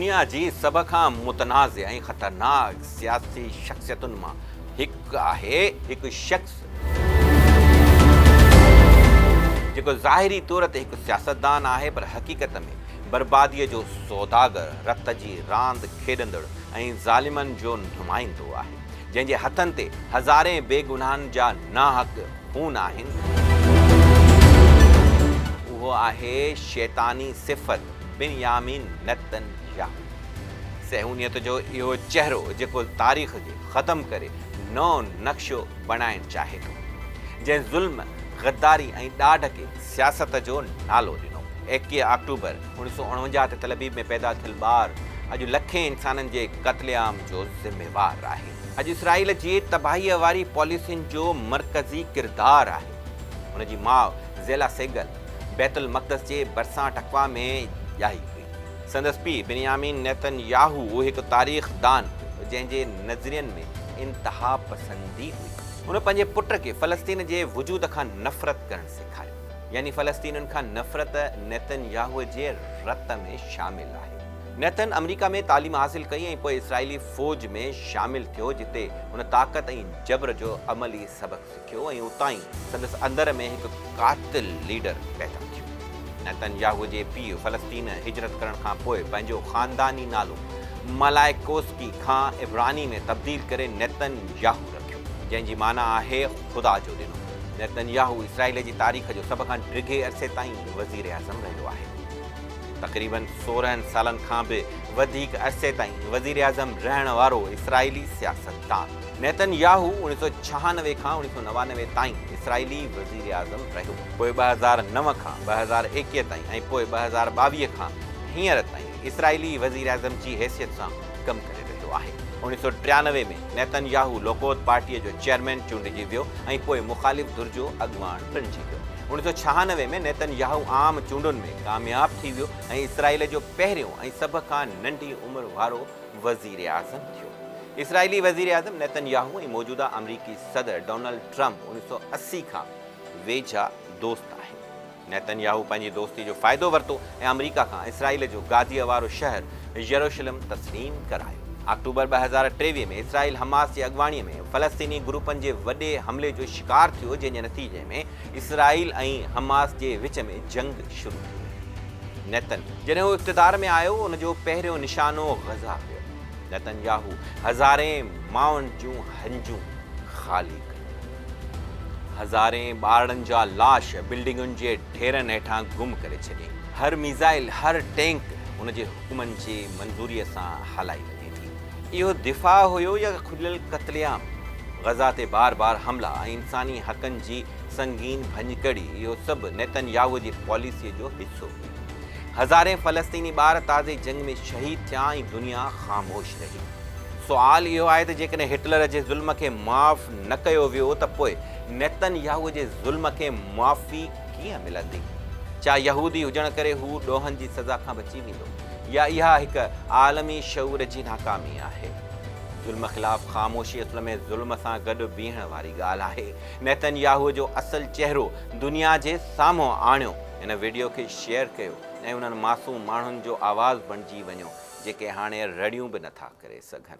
دنيا جي سڀ کان متنازع ۽ خطرناڪ سياسي شخصيتن مان هڪ آهي هڪ شخص جيڪو ظاهري طور تي هڪ سياستدان آهي پر حقيقت ۾ برباديء جو سوداگر، رت جي راند کيڏندڙ ۽ ظالمن جو نمائندو آهي. جنهن جي هٿن تي هزارين بيگناهن جا ناحق خون آهن، اهو آهي شيطاني صفت بنيامين نتن ياهو. صهيونيت جو اهو چهرو جيڪو تاريخ کي ختم ڪري نئون نقشو بڻائڻ چاهي ٿو، جنهن ظلم، غداري ۽ ڏاڍ کي سياست جو نالو ڏنو. ايڪيهه آڪٽوبر اوڻيهه سؤ اڻونجاهه تي تلابيب ۾ پيدا ٿيل ٻار اڄ لکين انسانن جي قتل عام جو ذميوار آهي. اڄ اسرائيل جي تباهيء واري پاليسين جو مرڪزي ڪردار آهي. هن جي ماء زيلا سيگل بيت المقدس جي ڀرسان ٽڪوا ۾ ڄائي هئي. سندس پيء بنيامين نيتن ياهو هڪ تاريخ دان هو جنهن جي نظرين ۾ انتها پسندي هئي. هن پنهنجي پٽ کي فلسطين جي وجود کان نفرت ڪرڻ سيکاريو. يعني فلسطينين کان نفرت نيتن ياهوء جي رت ۾ شامل آهي. نيتن آمريڪا ۾ تعليم حاصل ڪئي ۽ پوء اسرائيلي فوج ۾ شامل ٿيو جتي هن طاقت ۽ جبر جو عملي سبق سکيو ۽ اتان ئي سندس اندر ۾ هڪ قاتل ليڊر پيدا ٿيو. نيتن ياهوء جي پيء فلسطين هجرت ڪرڻ کان پوء پنهنجو خانداني نالو مالائيڪوسڪي کان عبراني ۾ تبديل ڪري نيتن ياهو رکيو. جنهن جي معنيٰ آهي خدا جو ڏنو. نيتن ياهو اسرائيل جي تاريخ جو سڀ کان ڊگهي عرصي تائين وزيراعظم رهيو آهي. تقريباً سورهن سالن کان به وڌيڪ عرصي تائين وزيراعظم رهڻ وارو اسرائيلي سياستدان. نيتن ياهو اوڻيهه سؤ ڇهانوي کان اوڻيهه سؤ نوانوي تائين اسرائيلي وزيراعظم رهيو. پوء ٻه هزار نو کان ٻه هزار ايڪيهه تائين ۽ پوء ٻه هزار ٻاويهه کان هينئر تائين اسرائيلي وزيراعظم جي حيثيت سان ڪم ڪري رهيو آهي. اوڻيهه سؤ ٽيانوي ۾ نيتن ياهو لوڪوت پارٽيء جو چيئرمين چونڊجي ويو ۽ پوء مخالف ڌر جو اڳواڻ بڻجي ويو. اوڻيهه سؤ ڇهانوي ۾ نيتن ياهو عام چونڊن ۾ ڪامياب ٿي ويو ۽ اسرائيل جو پهريون ۽ سڀ کان ننڍي عمر وارو وزيراعظم ٿيو. اسرائيلي وزيراعظم نيتن ياهو ۽ موجوده آمريڪي صدر ڊونلڊ ٽرمپ اوڻيهه سؤ اسي کان ويجها دوست آهن. نيتن ياهو پنهنجي دوستي جو فائدو ورتو ۽ آمريڪا کان اسرائيل جو گاديء وارو شهر يروشلم تسليم ڪرايو. آڪٽوبر ٻه هزار ٽيويهه ۾ اسرائيل حماس جي اڳواڻيء ۾ فلسطيني گروپن جي وڏي حملي جو شڪار ٿيو جنهن جي نتيجي ۾ اسرائيل ۽ حماس جي وچ ۾ جنگ شروع ٿي وئي. نيتن. جڏهن هو اقتدار ۾ آيو ان جو پهريون نشانو غزه هيو. نيتن ياهو هزارين ماڻهن جون هنجون خالي ڪيون. هزارين ٻارڙن جا لاش بلڊنگن جي ڍيرن هيٺان گم ڪري ڇڏي. هر ميزائل، هر ٽينڪ هن جي حڪمن جي منظوريء سان هلائي وڃي ٿي. اهو دفاع هيو يا کليل قتل عام؟ غزه تي بار بار حملا ۽ انساني حقن جي سنگين ڀڃڪڙي، اهو سڀ نيتن ياهوء جي پاليسيء جو حصو هو. هزارين فلسطيني ٻار تازي جنگ ۾ شهيد ٿيا ۽ دنيا خاموش رهي. سوال اهو آهي ته جيڪڏهن هٽلر جي ظلم کي معاف نه ڪيو ويو ته پوء نيتن ياهوء جي ظلم کي معافي ڪيئن ملندي؟ ڇا يهودي هجڻ ڪري هو ڏوهن جي سزا کان بچي ويندو؟ يا اها هڪ عالمي شعور جي ناڪامي آهي؟ ظلم خلاف خاموشي اصل ۾ ظلم سان گڏ بيهڻ واري ڳالهه آهي. نيتن ياهوء جو اصل چهرو دنيا جي سامهون آڻيو. هن وڊيو کي شيئر ڪيو ۽ انهن معصوم ماڻهن جو آواز بڻجي وڃو جيڪي هاڻي رڙيون به نه ٿا ڪري سگهن.